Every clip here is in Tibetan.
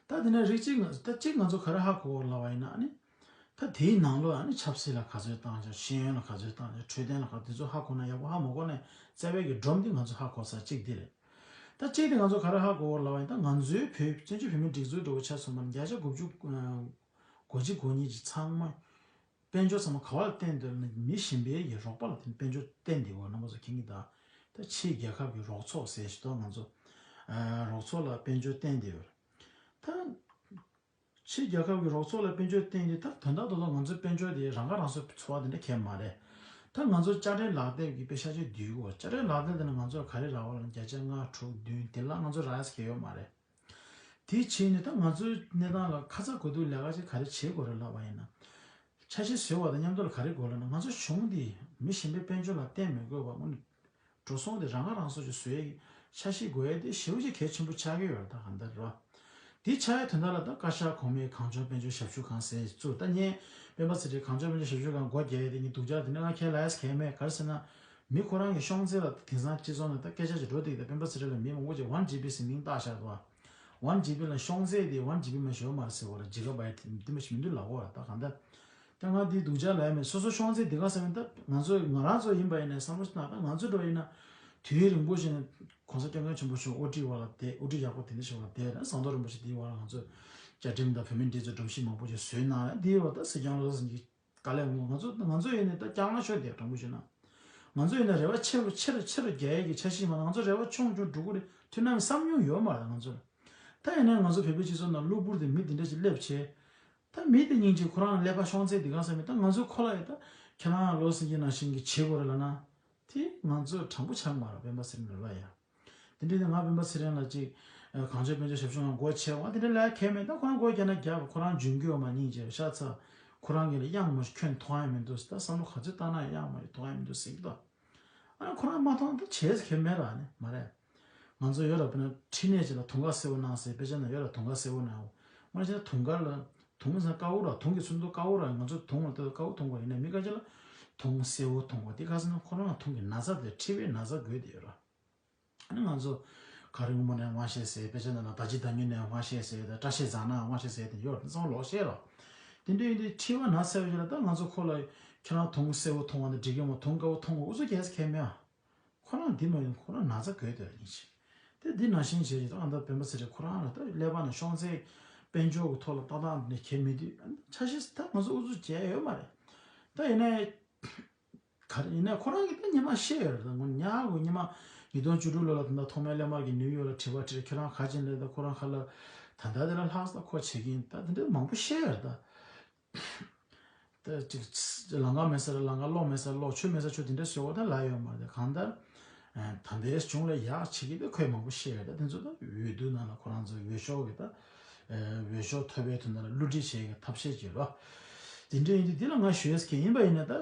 ད་དེ་ནས་རིགས་གཅིག་ང་ད་གཅིག་ང་ཚོ་ག་རེ་ཧ་གོ་ལ་བ་ཡིན་ན་ནི། ད་དེའི་ནང་ལོ་ནི་ཆབ་སྲིད་ལ་ག་ཚོད་བཏང་ཆགས་ཤེས་ཡོན་ལ་ག་ཚོད་བཏང་ཆགས་འཕྲོད་བསྟེན་ལ་ག་དེ་ཚོ་ཧ་གོ་ན་ཡག་པོ་ཧ་མ་གོ་ནས་བཙལ་བས་ཀྱི་སྒྲོམ་དེ་ང་ཚོ་ཧ་གོ་ས་གཅིག་དེ་རེད། ད་གཅིག་དེ་ང་ཚོ་ག་རེ་ཧ་གོ་ལ་བ་ཡིན་ད་ང་ཚོའི་བོད་བཙན་བྱོལ་བོད་མིའི་སྒྲིག་འཛུགས་འགྲོ་བའི་ཆ་ཚུན་པ་ནི་བརྒྱ་ཆ་དགུ་བཅུ་གོ་གཅིག་གོ་གཉིས་ཀྱི་ཚང་མ། དཔལ་འབྱོར་ཚང་མ་ག་བ་ལ་བརྟེན་འདོད་ལ་ནི་མི་གཞན་པའི་ཡི་རོགས་པ་ལ་བརྟེན་དཔལ་འབྱོར་བརྟེན་བདེ་བོ་རྣམ་པ་ཚོ་མཁྱེན་གྱི་དང་ད་ཕྱིའི་རྒྱལ་ཁབ་ཀྱི་རོགས་ཚོགས་ཟེར་ཞེས་དོགས་ང་ཚོ་རོགས་ཚོགས་ལ་དཔལ་འབྱོར་བརྟེན་བདེ་བོ་ད་ཕྱིའི་རྒྱལ་ཁབ་ཀྱི་རོགས་ཚོགས་ལ་དཔལ་འབྱོར་བརྟེན་དེ་ད་དོན་དག་ཏུ་ང་ཚོའི་དཔལ་འབྱོར་དེ་རང་ཁ་རང་གསོ་འཚོ་བ་དེ་འདྲ་ཁས་མ་རེད་ད་ང་ཚོ་དཔྱ་ཁྲལ་ལག་དེབ་ཀྱི་དཔེ་ཤ་ཆེ་བསྡུས་གོ་དཔྱ་ཁྲལ་ལག་དེབ་དེ་ནི་ང་ཚོར་ག་རེ་རག་བ་ལ་ནི་བརྒྱ་ཆ་ལྔ་དྲུག་བདུན་དེ་ལ་ང་ཚོ་རག་ཡས་ཁས་ཡོད་མ་རེད། དེའི་ཕྱིར་ནི་ད་ང་ཚོའི་གནས་སྟངས་ལ་ཁ་ཚ་དགོས་གཏུགས་ལས་ཀ་ཅིག་ག་རེ་བྱེད་དགོས་རེད་ལབ་པ་ཡིན་ན། ཆ་ཤས་བཟོས་བ་དང་མཉམ་དུ་ལ་ག་རེ་དགོས་ལབ་ན་ང་ཚོ་གཞུང་འདིས་མི་གཞན་པའི་དཔལ་འབྱོར་ལ་བརྟེན་མི་དགོས་པར་སྔོན་ནས་འགྲོ་སོང་དེ་རང་ཁ་རང་གསོ་ཅིག་བཟོ་ཡའི་ཆ་ཤས་དགོས་ཡ་དེ་ཞེའུ་ཅིག་གལ་ཆེན་པོ་ཆགས་ཀྱི་ཡོད་རེད་ད་གང་ལྟར་རེད་བ། དེའི་ཆགས་ཡ་དོན་དག་ལ་ད་བཀའ་ཤག་གོང་མའི་གངས་ལྗོངས་དཔལ་འབྱོར་ཞབས་ཞུ་ཁང་ཟེར་ཚུར་ད་བརྙན་སྤེན་པ་ཚེ་ཁྲིའི་གངས་ལྗོངས་དཔལ་འབྱོར་ཞབས་ཞུ་ཁང་སྒོ་རྒྱག་ཡ་དེ་ནི་སྡུག་ཅག་དེ་ནི་ང་ཁྱེད་ལ་ཡས་ཁས་མེད་ག་རེ་ཟེར་ན། མི་ཁོ་རང་གི་ཤོང་ཚེ་ལ་དེང་སང་སྤྱི་ཚོགས་ནང་ད་སྐད་ཆ་ཆེ་འགྲོ་སྟེ་ད་སྤེན་པ་ཚེ་རིང་ལ་མིའི་མགོ་སྐོར་ཅིག་ཝན་ཇི་པི་ཟེར་མིང་བཏགས་བཞག་འདུག་ཨ། ཝན་ཇི་པི་ལ་ཤོང་ཚེ་དེ་ཝན་ཇི་པི་མ་ཞོ་མར་ཟེར་བ་ལ་ཇི་ག་བའི་དེ་མ་ཞིག་མི་འདུག་ལགས་གོ་ད་གང་ལྟར། སྐྱག་ངག་འདིའི་སྡུག་ཅག་ལས་མེད་སོ་སོ་ཤོང་ཚེ་དེ་ག་ཟེར་བ་ད་ང་ཚོ་ང་རང་ཚོ་ཡིན་པ་ཡིན་ནས་བསམ་བློ་ན་ད་ང་ཚོ་འགྲོ་ཡིན་ན། དུས་རིང་པོ་ཞིག་ནས ྋགོང་ས་སྐྱབས་མགོན་ཆེན་པོ་མཆོག་དབུ་ཁྲིད་བ་ལ་དེ་དབུ་ཁྲིད་ཡག་པོ་དེ་འདྲ་ཞིག་བ་ལ་དེ་ན་ཟངས་མདོག་རིན་པོ་ཆེ་དེའི་བ་ལ་ང་ཚོ། བཅའ་ཁྲིམས་དང་བོད་མི་འདི་ཚོ་སྒྲོམ་གཞི་མང་པོ་ཞིག་བཟོས་གནང་ལ་དེའི་བ་ལ་ད་སྲིད་སྐྱོང་ལོ་སར་ཟིན་གྱི་དཀའ་ལས་ངོ། ང་ཚོ་ང་ཚོ་ཡོད་ནས་ད་སྐྱག་ན་ཤོག་དེ་དྲང་པོ་བྱོས་ན། ང་ཚོ་ཡོད་ན་རེ་བ་ཆེ་རུ་ཆེ་རུ་ཆེ་རུ་རྒྱ་ཡས་ཀྱི་ཆ་ཤིས་མ་ང་ཚོ་རེ་བ་ཆུང་ཆུང་འབྲུག་གུ་རེ་ཐུན་ནམ་བསམ་མྱོང་ཡོད་མ་རེད་ང་ཚོར། ད་ཡིན་ནའི་ང་ཚོ་བལ་པོའི་སྤྱི་ཚོགས་ནང་གློ་བུར་དུ་མི་དེ་འདྲ་ཞིག་སླེབས་བྱས། ད་མི་དེ་སྙིང་རྗེ་ཁོ་རང་ལ་སླེབས་པ་ཤོང་ཚེ་འདི་གང་ས་མི་ད་ང་ཚོའི་ཁོ་ལག་ཡོད་ད་ཁྱེད་རང་ལོ་སེང་གེ་ནང་བཞིན་གྱི་བྱེད་དགོས་རེད་ལ་ན། དེ་ང་ཚོ་དྲང་པོ་ཆགས་མ་རེད་བན་པ་ཟེར་ནས་ལོ་ལ་ཡར། དེ་འདྲས་ནས་ང་སྤེན་པ་ཚེ་རིང་ལ་ཅིག། གངས་ཅན་དཔོན་ཆེན་ཞབས་ཞུ་ཡང་སྒོ་ཕྱེ་བ་དེ་འདྲས་ལས་ཁེ་མེད་ད་ཁོ་རང་སྒོ་རྒྱ་ན་རྒྱ་བ་ཁོ་རང་འཇུན་གྱི་འོ་མ་ཉིན་བྱས་པ་ཤ་ཚ། ཁོ་རང་གི་ལ་དབྱངས་མོ་ཁྱོད་མཐོང་ཡ་མི་འདུག་ཟེར་ད་བསམ་བློ་ག་ཚོད་བཏང་ན་དབྱངས་མོ་ཡི་མཐོང་ཡ་མི་འདུག་ཟེར་གྱི་འདུག་ཨ་ཁོ་རང་མ་མཐོང་ད་བྱས་ཁེ་མེད་ར་ནི་མ་རེད། ང་ཚོ་ཡོད་ར་བོད་ན་ཁྲི་ནས་ཅིག་ལ་དུང་དཀར་སེར་བོ་གནང་ཟེར་དཔེ་ཆ་ན་ཡོད་ར་དུང་དཀར་སེར་བོ་གནང་ཡོང་ང་རང་ཅིག་ད་དུང་དཀར་ལ་དུང་བཟང་དཀར་བོ་ར་དུང་གི་ཚུར་མདོ་དཀར་བོ་ར་ང་ཚོ་དུང་བ་ལ་ལྟོས་དཀར་བོ་དུང་བ་ཡིན་ན་མི་དགའ་ཆེ་ལ། དུང་སེར་བོ་དུང་བ་དེ་ཁ་སང་ཁོ་རང་དུང་གི་ན་བཟའ་དེ་ཁྲི་བའི་ན་བཟའ་དགོས་དེ་ཡོད་ར། ང་ཚོ་ག་རེ་དབུ་མ་ནས་དབང་བཤད་ཟེར་དཔེ་ཆ་ནང་ན་ད་ཅི་ད་ཉི་ནས་དབང་བཤད་ཟེར་ད་སྐྲ་ཤད་བཟང་ན་དབང་བཤད་ཟེར་དེ་ཡོད་ར་དེ་ཚང་མ་ལོག་བཤད་ར། དེ་འདྲ་ཡིན་དུས་ཁྲི་བ་ན་བཟའ་ཡོད་ཆེ་ལ་ད་ང་ཚོ་ཁོ་ལ་ཁྱེད་རང་དུང་སེར་བོ་དུང་བ་འདི་འགྲིག་གི་མོ་དུང་དཀར་བོ་དུང་བ་འུ་ཚོ་རྒྱལ་ས་ཁས་མེད་ཨ། ཁོ་རང་འདི་མ་ཡིན་ཁོ་རང་ན་ཚ་གོས་དེ་ར་ཡིན་བྱས། དེ་འདི་ན་ཞེན་བྱས་རྗེས་ཨ་མདོ་སྤེན་པ་ཚེ་རིང་ཁོ་རང་ལ་ད་ཀླད་པ་ན་ཤོང་ཚེ། དཔལ་འབྱོར་གྱི་ཐོག་ལ་ཏག་ཏག་ནས་གྱེས་མི་དུས་ཆ་ཤས་ད་ང་ཚོ་ཨུ་ཚུགས་བྱས་ཡོད་མ་རེད། ད་ཡིན་ནའི། ག་རེ་ཡིན་ནའི་ཁོ་རང་གིས་ད་ཉི་མ་ཤེས་ཡོད་རེད་ད་ངོ་ཉག་གུ་ཉི་མ་ཉིས་སྟོང་བཅུ་དྲུག་ལོ་ལ་ད་ཐོག་མའི་ཀླད་དམར་གྱི་ནིའུ་ཡོག་ལ་དྲི་བ་དྲིས་ཁྱེད་རང་ག་ཅན་རེད་ད་ཁོ་རང་ག་ལ། ད་ད་དེ་ལ་ལྷག་ས་ཁོ་བྱེད་ཀྱིན་ད་དེ་འདྲ་མང་པོ་ཤེས་ཡོད་རེད་ད། ལང་ཀ་མེད་ས་རེད་ལང་ཀ་གློག་མེད་ས་རེད་གློག་ཆུ་མེད་ས་ཆུ་དེ་འདྲ་ཟེར་བ་དང་ལ་ཡོད་མ་རེད་གང་ལྟར་དམ་པའི་གཞུང་ལ་ཡག་བྱེད་ཀྱི་དེ་ཁོས་མང་པོ་བཤད་ཡོད་ད་དེ་ཚོ་དང་འོས་བསྡུ་ནང་ལ་ཁོ་རང་ཚོའི་འོས་ཤོག་གི་དང་འོས་ཤོག་ཐོབ་པའི་དོན་དང་ལ་བསླུ་བྲིད་བྱེད་ཀྱི་ཐབས་ཤེས་བྱེད་རོགས། དེ་འདྲ་ཡིན་དུས་དེ་ལ་ང་ཞུས་ཀྱི་ཡིན་པ་ཡིན་ན་ད།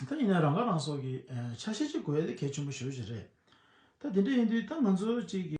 ད་ཡིན་ན་རང་ཁ་རང་གསོ་གི་ཆ་ཤས་ཅིག་དགོས་ཡོད་དེ་གལ་ཆེན་པོ་ཞུ་བྱེད་རེད། ད་དེ་འདྲ་ཡིན་དུས་ད་ང་ཚོ་གཅིག་གི།